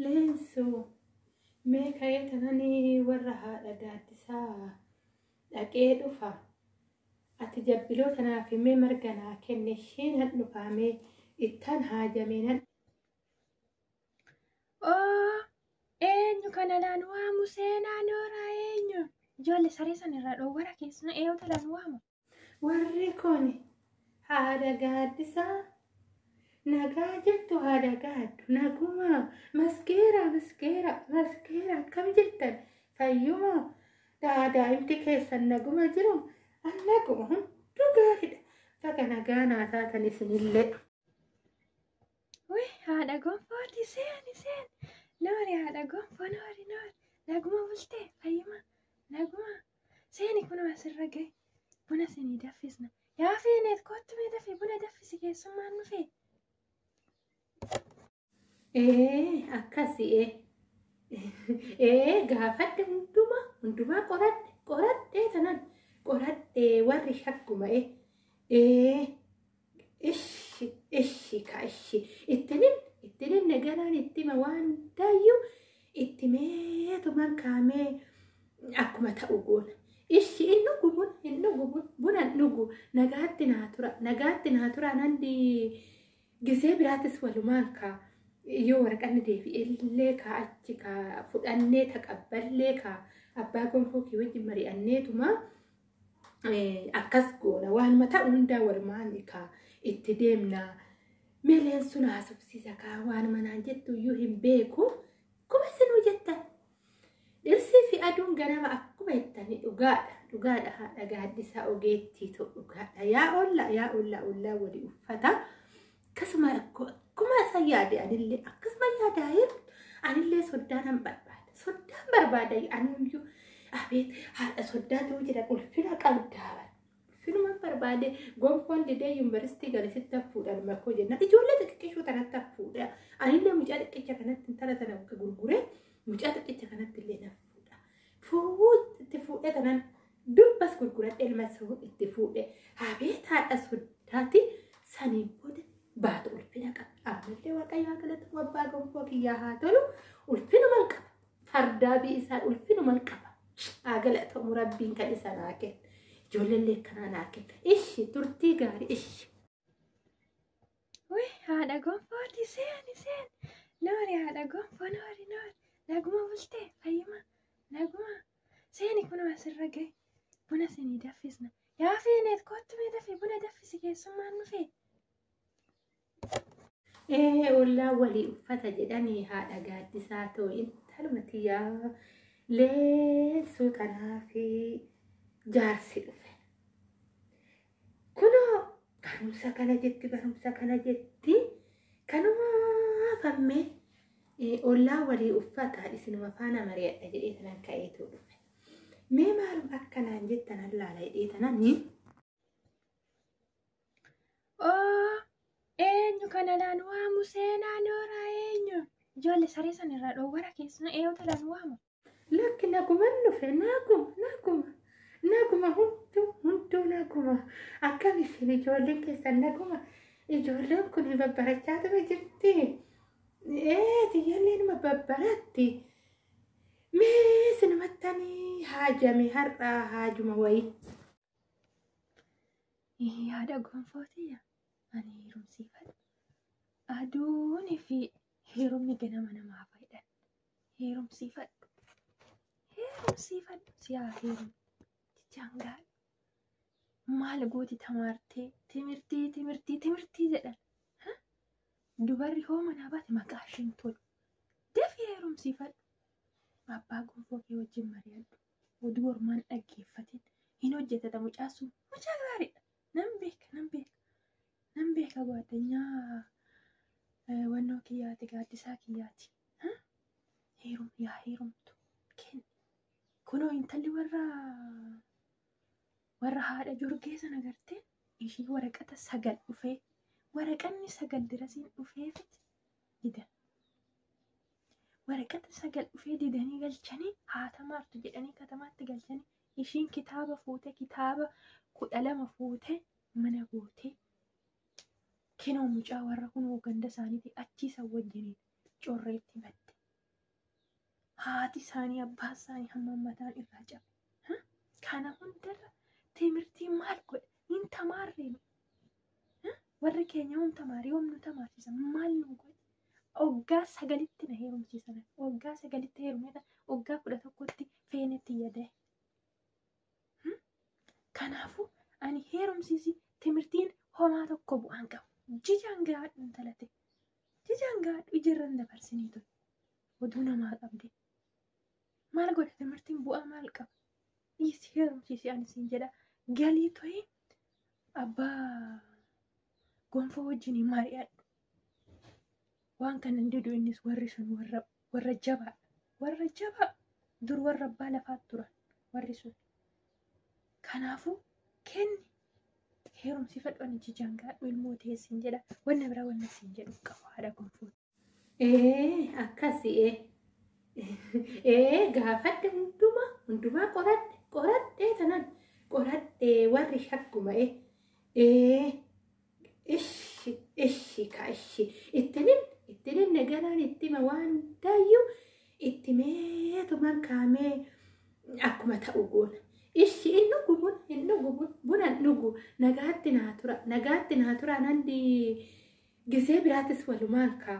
Leensu mee ka'ee tananii warra haadha gaaddisaa dhaqee dhufa. Ati jabbiloo tanaaf mee marga naa kenne isheen han dhufaamee ittaan haajamee nan. Oo eenyu kana laan waamu seenaa nooraa eenyu? Ijoollee saree san irraa dhoowwara keessumaa eeyoota laan waamu. Warri kun haadha gaaddisaa nagaa jettu haadha gaaddu naguma maskeera maskeera maskeera akkam jettan fayyuma daadaa'imti keessan naguma jiru an naguma hunduu gaariidha baga nagaa naa taatan isinillee. Wee haadha gonfooti seeni seeni noori haadha gonfoo noori noori naguma bultee fayyuma naguma Seeni kunoo asirra gahe. Buna sinii daffisna. Yaa feeneet koottu mee dafii buna daffisi keessummaan nu fee. Ee akkasi ee. Ee gaafadhe hundumaa hundumaa qoradhe qoradhe tanan qoradhe warri shakkuma ee. Ee Ishi ishi ka ishi ittinin ittinin nagaraan ittima waan hundaayyuu ittimeetumaan kaamee akkuma ta'u goona. Ishi hin dhugu buna hin dhugu buna buna hin dhugu nagaatti naa tura nagaatti naa tura nandi gisee biraattis walumaan kaa yoo waraqanni deebi'ellee kaa achi kaa fudhannee taqabballee kaa abbaa gonfoo kee wajjin mari'anneetuma akkas goona waanuma ta'u hundaa walumaan kaa itti deemna meeleen sun haasofsiisa kaa waanuma naan jettu iyyuu hin beeku akkuma isinuu jettan dhirsii fi aduun ganama akkuma jettanii dhugaadha dhugaadha haadha gaaddisaa ogeettiitu dhugaadha yaa olla yaa olla ollaa wali uffata Akkasuma rakkoo akkuma isaan yaade anillee akkasuma yaadaa'ee anillee soddaa nan barbaada. Soddaan barbaada anuyyuu abeet haadha soddaa ta'uu jira ulfina qabdaa. Ulfinuma barbaade gonfoon didee yuunivarsiitii gale sitti hafuudhaan makkoo jenna. Ijoollee xixiqqishuu tanatti hafuudha. Anillee mucaa xiqqicha kanatti intala tana gurguree mucaa xiqqicha kanatti illee nafuudha. Fuudhee itti fuudhee tanan Durbas gurguradhe ilma soo itti fuudhe. Abeet haadha soddaati saniin booda baatu ulfina qaba. Ammallee waaqayyo haa galatamu abbaa gonfoo kiyyaa haa tolu ulfinuman qaba. Fardaa bii isaan ulfinuman qaba. Haa galatamu rabbiin kan isa naa kenna. Ijoollee kanaa naa kenna. Ishi turtii gaarii ishi. Wee haadha gonfooti seeni seeni. Noori haadha gonfoo noori noori. Naguma bultee fayyuma naguma. Seeni kunoo asirra gahe. Buna sinii daffisna. Yaa feeneet koottu mee dafii buna daffisi keessummaan dhufee. Ee ollaa walii uffata jedhanii haadha gaaddisaa too intaluma tiyyaa leessuu tanaa fi jaarsi dhufe. Kunoo kanumsa kana jetti barumsa kana jetti kanuma fammee eh, ollaa walii uffata isinuma faana mari'adha jedhee tanan ka'eetu dhufe. Mee maalum akkanaan jettan allaala jedhee tanan ni Oo, eenyu kana laan waamu seenaa nooraa eenyu? Ijoollee saree san irraa dhoowwara keessumaa eeyoota laan waamu. Lakki naguman dhufe naguma naguma naguma hunduu hunduu naguma akkam isin ijoolleen keessan naguma ijoolleen kun babbarachaa ture jirti ee tiyyallee nama babbaratti mee sinumattanii haajame har'aa haajuma wayii. Yaada gonfootiya ani heerumsiifadha. Aduun fi heerumni ganama namaa fayyada. heerumsiifadhu heerumsiifadhu siyaa heerum jechaan gaari maal gooti tamaartee timirtii timirtii timirtii jedhan Ha? dubarri hoo manaa baate maqaa ishiin tolu dafii heerumsiifadhu abbaa gonfoo kee wajjin mari'adhu oduu ormaan dhaggeeffatin hin hojjetata mucaa sun mucaa gaariidha Nan beeka, nan beeka. Nan beeka gaaddinyaa eh, wannoo kiyyaati, gaaddisaa kiyyaati. Ha? Heerum, yaa heerumtu. Kenni. Kunoo intalli warra warra haadha jorgee sana gartee ishii waraqata sagal dhufee waraqanni sagal dirasiin dhufeefit didan. Waraqata sagal dhufee didanii galchanii haatamaartu jedhanii katamaatti galchanii Ishiin kitaaba fuute kitaaba kudha lama fuute mana goote kinoo mucaa warra kunoo ganda isaaniiti achii san wajjiniin correetti batte. Haati isaanii abbaa isaanii hamma mataan irraa cabe. Ha? Kana hundarra timirtii maal godhe? Hin tamaarreen. Ha? Warri keenya yoom tamaare yoom nu tamaarsisan maal nu godhe? Oggaa sagalitti na heerumsiisa laata? Oggaa sagalitti heerumeeta oggaa kudha tokkotti feenetti yaadae. Kanaafuu ani heerumsiisi timirtiin homaa tokko bu'aan qabu. Jijaan gaadhu intala ta'e. Jijaan gaadhu ijarran dabarsinii ture. Oduu namaa qabdee. Maal godha timirtiin bu'aa maal qaba? Dhiisi heerumsiisi ani siin jedha. Galii to'ee abbaa gonfoo wajjin mari'adhu. Waan kana hin didu innis warri sun warra warra jabaa warra jabaa dur warra abbaa lafaa turan warri sun. Kanaafuu kenni heerumsiifadhu ani jijaan gaadhu ilmoo ta'e siin jedha wanna biraa wanna siin jedhu hin qabu haadha gonfoo. Ee akkasi ee ee gaafadhe hundumaa hundumaa qoradhe qoradhe tanan qoradhe warri shakkuma ee ee Ishi ishi ka ishi itti nin itti nin nagaraan itti hima waan hundaayyuu itti meetumaan kaamee akkuma ta'u goona. Ishi hin dhugu bun hin dhugu bun buna hin dhugu nagaatti naa tura nagaatti naa tura nandi gisee biraatis walumaan kaa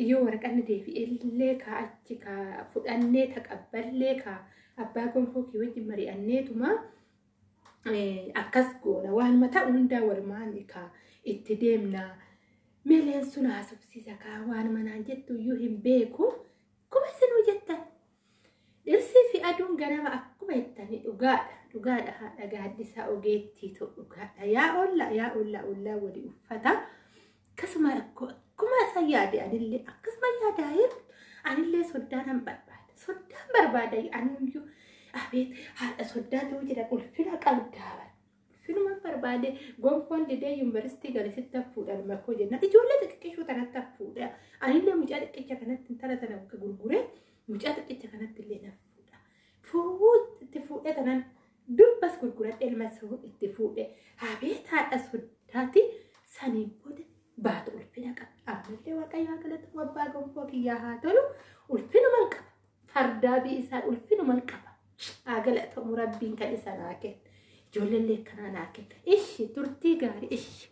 yoo waraqanni deebi'ellee kaa achi kaa fudhannee taqabballee kaa abbaa gonfoo kee wajjin mari'anneetuma akkas goona waanuma ta'u hundaa walumaan kaa itti deemna meeleen sun haasofsiisa kaa waanuma naan jettu iyyuu hin beeku akkuma isinuu jettan dhirsii fi aduun ganama akkuma jettanii dhugaadha dhugaadha haadha gaaddisaa ogeettiitu dhugaadha yaa olla yaa olla ollaa wali uffata Akkasuma rakkoo akkuma isaan yaade anillee akkasuma yaadaa'ee anillee soddaan an barbaada. Soddaan barbaada anuyyuu abeet haadha soddaa ta'uu jira ulfina qabdaa bara. Ulfinuma barbaade gonfoon didee yuunivarsiitii gale sitti hafuudhaan makoo jenna. Ijoollee xixiqqishuu tanatti hafuudha. Anillee mucaa xiqqicha kanatti intala tana gurguree mucaa xiqqicha kanatti illee nafuudha. Fuudhuu itti fuudhee tanan Durbas gurguradhe ilma soo itti fuudhe. Abeet haadha soddaati saniin booda baatu ulfina qaba. Ammallee waaqayyo haa galatu abbaa gonfoo kiyyaa haa tolu ulfinuman qaba. Fardaa bii isaa ulfinuman qaba. Haa galatamu rabbiin kan isa naa kenna. Ijoollee illee akkanaa naa kenna. Ishi turtii gaarii ishi.